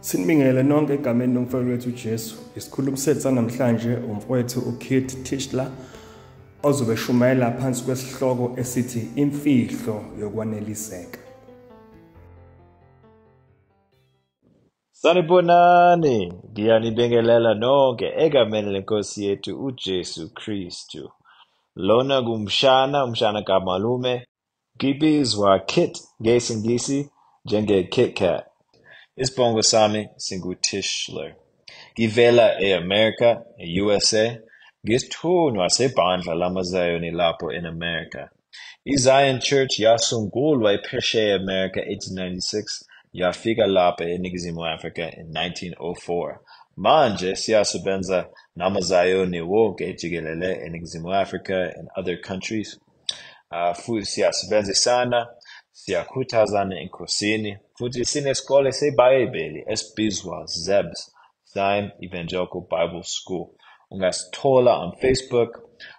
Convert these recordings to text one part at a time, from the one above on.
Sinibingelele nonke egameni lomfowethu wethu uJesu. Isikhulumi sethu sanamhlanje umfowethu uKit Tischler ozobe eshumayela phansi kwesihloko esithi imfihlo yokwaneliseka. Sanibonani, ngiyanibingelela nonke egameni lenkosi yethu uJesu Kristu. Lona kumshana, umshana kamalume, Ngibizwa kit ngesingisi njenge Kit Kat. Isbongo sami singu Tischler. Ngivela e America, e usa, ngisithunywa sebandla lama Zayoni lapho in America. I Zion Church yasungulwa ephesheya e America 1896 yafika lapha e Ningizimu Africa in 1904. Manje siyasebenza nama Zayoni wonke jikelele e Ningizimu Africa and other countries. uh, futhi siyasebenzisana siyakhuthazana enkosini futhi sinesikole sebhayibheli esibizwa zebs Zion Evangelical Bible School ungasithola on facebook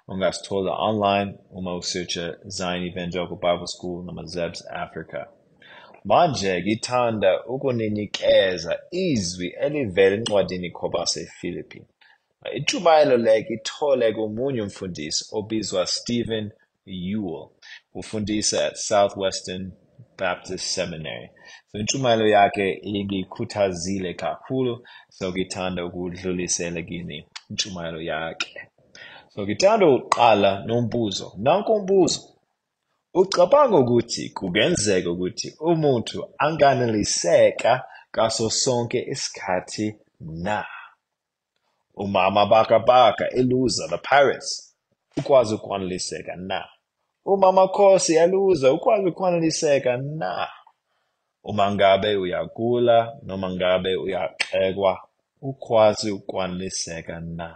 ungasithola online uma usearcha Zion Evangelical Bible School noma zebs africa manje ngithanda ukuninikeza izwi elivela encwadini khobase philippine Intshumayelo le ngithole komunye umfundisi obizwa Stephen Ewell, ufundisa at Southwestern Baptist Seminary. So intshumayelo yakhe ingikhuthazile kakhulu, so ngithanda ukudlulisela kini intshumayelo yakhe. So ngithanda ukuqala nombuzo. Nanku umbuzo. Ucabanga ukuthi kungenzeka ukuthi umuntu anganeliseka ngaso sonke isikhathi na? UMama Bhakabhaka eluza The Pirates ukwazi ukwaneliseka na? UMama Khosi eluza ukwazi ukwaneliseka na? Uma ngabe uyagula noma ngabe uyaxekwa ukwazi ukwaneliseka na?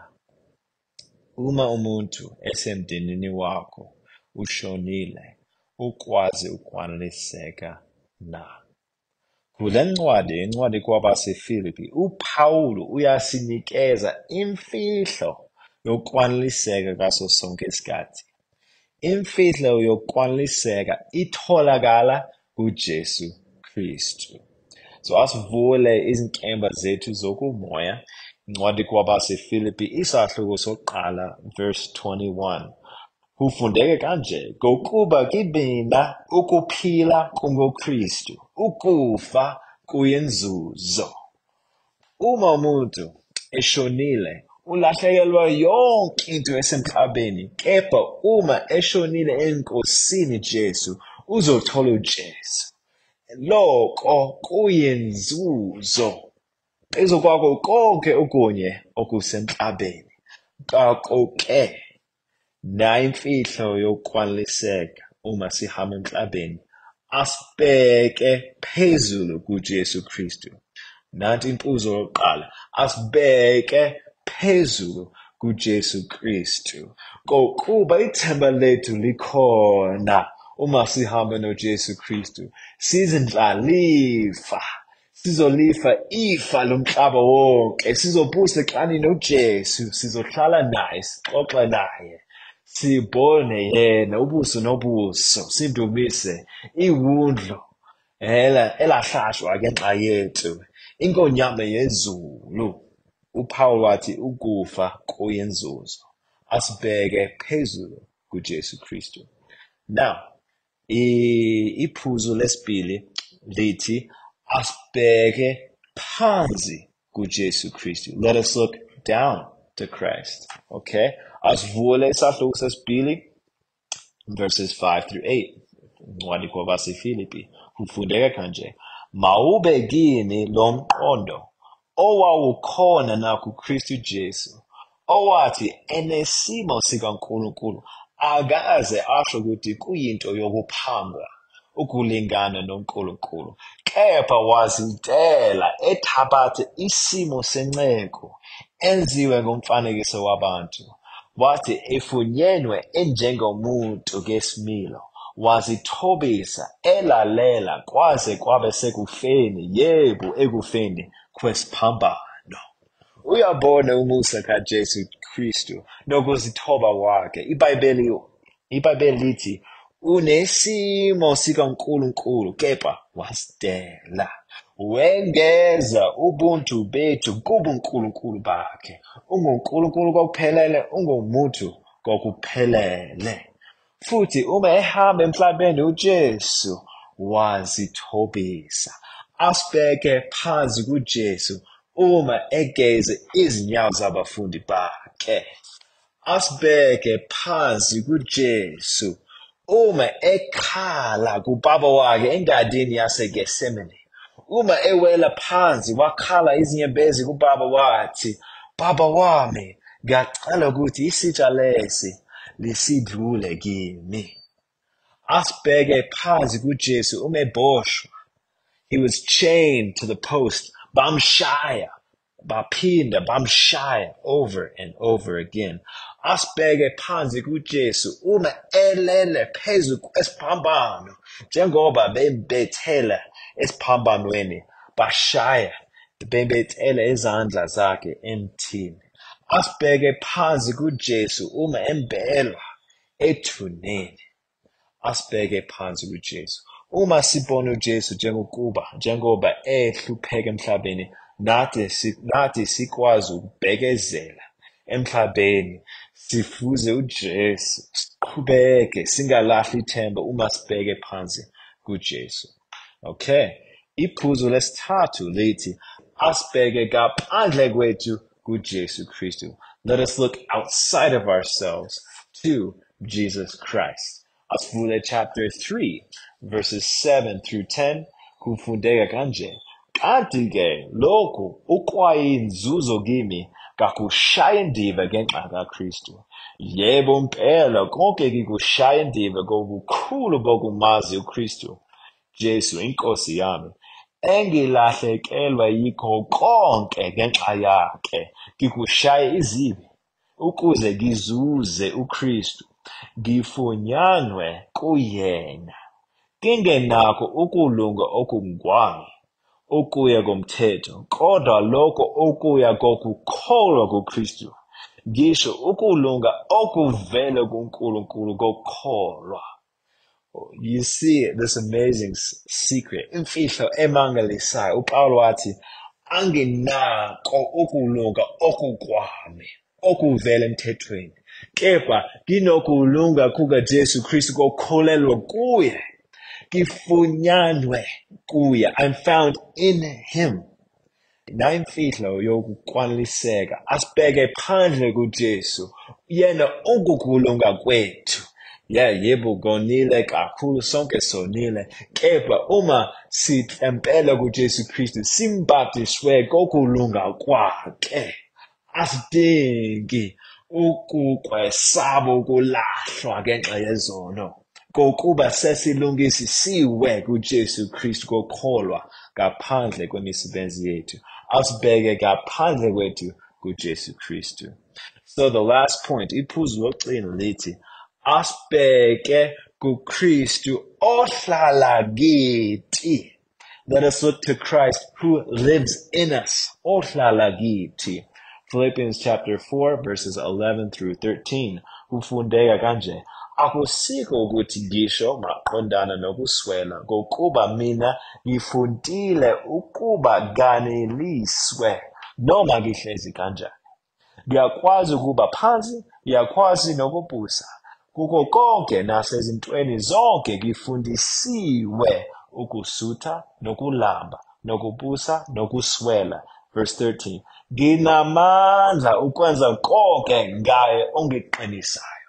Uma umuntu esemndenini wakho ushonile ukwazi ukwaneliseka na? Kule ncwadi, incwadi kwabaseFilipi, uPawulu uyasinikeza imfihlo yokwaneliseka kaso sonke isikhathi. Imfihlo yokwaneliseka itholakala kuJesu Kristu. So asivule izinkemba zethu zokumoya incwadi kwabaseFilipi isahluko sokuqala verse 21. Kufundeke kanje, Ngokuba kimina ukuphila kungoKristu, ukufa kuyinzuzo. Uma umuntu eshonile, ulahlekelwa yonke into yasemhlabeni, kepha uma eshonile eNkosini Jesu, uzothola uJesu. Loko kuyinzuzo phezu kwako konke okunye okusemhlabeni. Ngakho-ke, Nayi imfihlo yokwaliseka uma sihamba emhlabeni asibheke phezulu kuJesu Kristu. Nanti impuzo yokuqala asibheke phezulu kuJesu Kristu. Kokuba ithemba lethu likhona uma sihamba noJesu Kristu, sizindlalifa Sizolifa ifa lomhlaba wonke, sizobusa eklani noJesu, sizohlala naye, sixoxe naye, sibone yena ubuso nobuso, sindumise iwundlu ela elahlatshwa ke nxa yethu inkonyama yezulu uPawulu wathi ukufa kuyenzuzo asibheke phezulu kuJesu Kristu now Iphuzu lesibili lithi asibheke phansi kuJesu Kristu. Let us look down to Christ. Okay? Asivule isahluko sesibili verses 5 through 8. Incwadi kwabaseFilipi. Kufundeka kanje. Mawube kini lomqondo owawukhona nakuKristu Jesu, owathi enesimo sikaNkulunkulu akaze asho ukuthi kuyinto yokuphangwa ukulingana noNkulunkulu, kepha wazidela ethabathe isimo senceku enziwe ngomfanekiso wabantu. wathi ifunyenwe enjengomuntu kesimilo wazithobisa elalela kwaze kwabe sekufeni yebo ekufeni kwesiphambano uyabona umusa kaJesu Kristu nokuzithoba kwakhe iBhayibheli IBhayibheli lithi unesimo sikaNkulunkulu kepha wasitela. Wengeza ubuntu bethu kubuNkulunkulu bakhe. UnguNkulunkulu kokuphelele, ungumuntu kokuphelele. Futhi uma ehamba emhlabeni uJesu wazithobisa. Asibheke phansi kuJesu uma egeze izinyawo zabafundi bakhe. asibeke phansi kuJesu uma ekhala kubaba wakhe engadini yaseGethsemane uma ewela phansi wakhala izinyembezi kubaba wathi baba wami ngiyacela ukuthi isitsha lesi lisidlule kimi asibheke phansi kuJesu uma eboshwa he was chained to the post bamshaya baphinda bamshaya over and over again asibheke phansi kuJesu uma elele phezu kwesiphambano njengoba bembethela esiphambanweni bashaya bembethela izandla zakhe emthini asibheke phansi kuJesu uma embelwa ethuneni Asibheke phansi kuJesu. Uma sibona uJesu njengokuba njengoba ehlupheka emhlabeni, nathi nathi sikwazi ukubekezela emhlabeni sifuze uJesu siqhubeke singalahli ithemba uma sibheke phansi kuJesu. Okay. Iphuzu lesithathu lithi asibheke kaphandle kwethu kuJesu Kristu. Let us look outside of ourselves to Jesus Christ. Asifune chapter 3 verses 7 through 10 kufundeka kanje. Kanti ke lokhu ukwayinzuzo kimi kakushaya indiva ngenxa kaKristu. Yebo mpela konke kikushaya indiva kokukhulu bokumazi uKristu Jesu inkosi yami engilahlekelwa yikho konke ngenxa yakhe ngikushaya izibi ukuze ngizuze uKristu, ngifunyanwe kuyena, ngingenakho ukulunga okungokwami okuya komthetho, kodwa lokho okuya kokukholwa kuKristu, ngisho ukulunga okuvela kuNkulunkulu kokholwa. you see this amazing secret imfihlo emangalisayo upawulo wathi anginako ukulunga okukwami okuvela emthethweni kepha nginokulunga kukajesu kristu kokholelwa kuye ngifunyanwe kuye i'm found in him nayimfihlo yokukwaliseka asibheke phandle kuJesu yena ukukulunga kwethu ya yebo konile kakhulu sonke sonile kepha uma sithempela kuJesu Kristu simbhadiswe kokulunga kwakhe Asidingi ukukwesaba ukulahlwa ngenxa yezono, ngokuba sesilungisisiwe kuJesu Kristu kokholwa ngaphandle kwemisebenzi yethu. Asibheke ngaphandle kwethu kuJesu Kristu. So the last point, iphuzu lokugcina lithi asibheke kuKristu ohlala kithi. Let us look to Christ who lives in us. Ohlala kithi. Philippians chapter 4 verses 11 through 13. Kufundeka kanje. Akusiko ukuthi ngisho maqondana nokuswela kokuba mina ngifuntile ukuba kaneliswe noma ngihlezi kanjani. Liyakwazi ukuba phansi, liyakwazi nokubusa. Kuko konke nasezintweni zonke ngifundisiwe ukusutha nokulamba nokubusa nokuswela. Verse 13. Nginamandla ukwenza konke ngaye ongiqinisayo.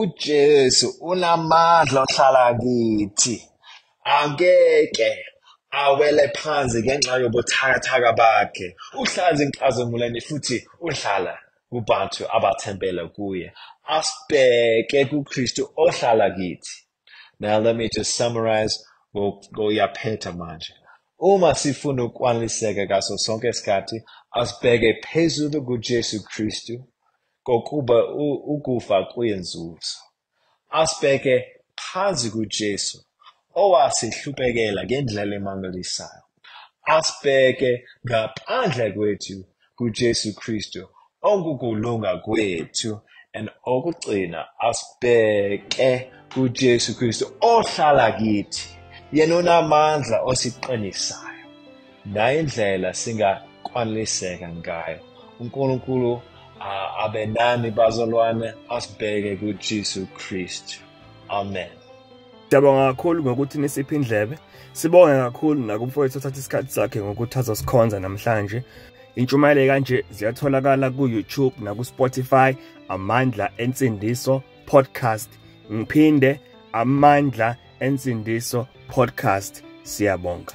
uJesu unamandla ohlala kithi angeke awele phansi ngenxa yobuthakathaka bakhe uhlala enkazimulweni futhi uhlala kubantu abathembele kuye asibheke kuKristu ohlala kithi now let me just summarize ngoyaphetha manje uma sifuna ukwaneliseka kaso sonke isikhathi asibheke phezulu kujesu kristu kokuba ukufa kuyenzuzo asibheke phansi kujesu owasihlupekela ngendlela emangalisayo Asibheke ngaphandle kwethu kuJesu Kristu okukulunga kwethu and okugcina asibheke kuJesu Kristu ohlala kithi yena unamandla osiqinisayo nayo indlela singakwaneliseka ngayo uNkulunkulu abenani bazalwane asibheke kuJesu Kristu amen Siyabonga kakhulu ngokuthi nisiphe indlebe. Sibonge kakhulu nakumfowethu othatha isikhathi sakhe ngokuthi azosikhonza namhlanje. Intshumayelo kanje ziyatholakala ku-YouTube naku-Spotify Amandla Ensindiso Podcast. Ngiphinde Amandla Ensindiso Podcast. Siyabonga.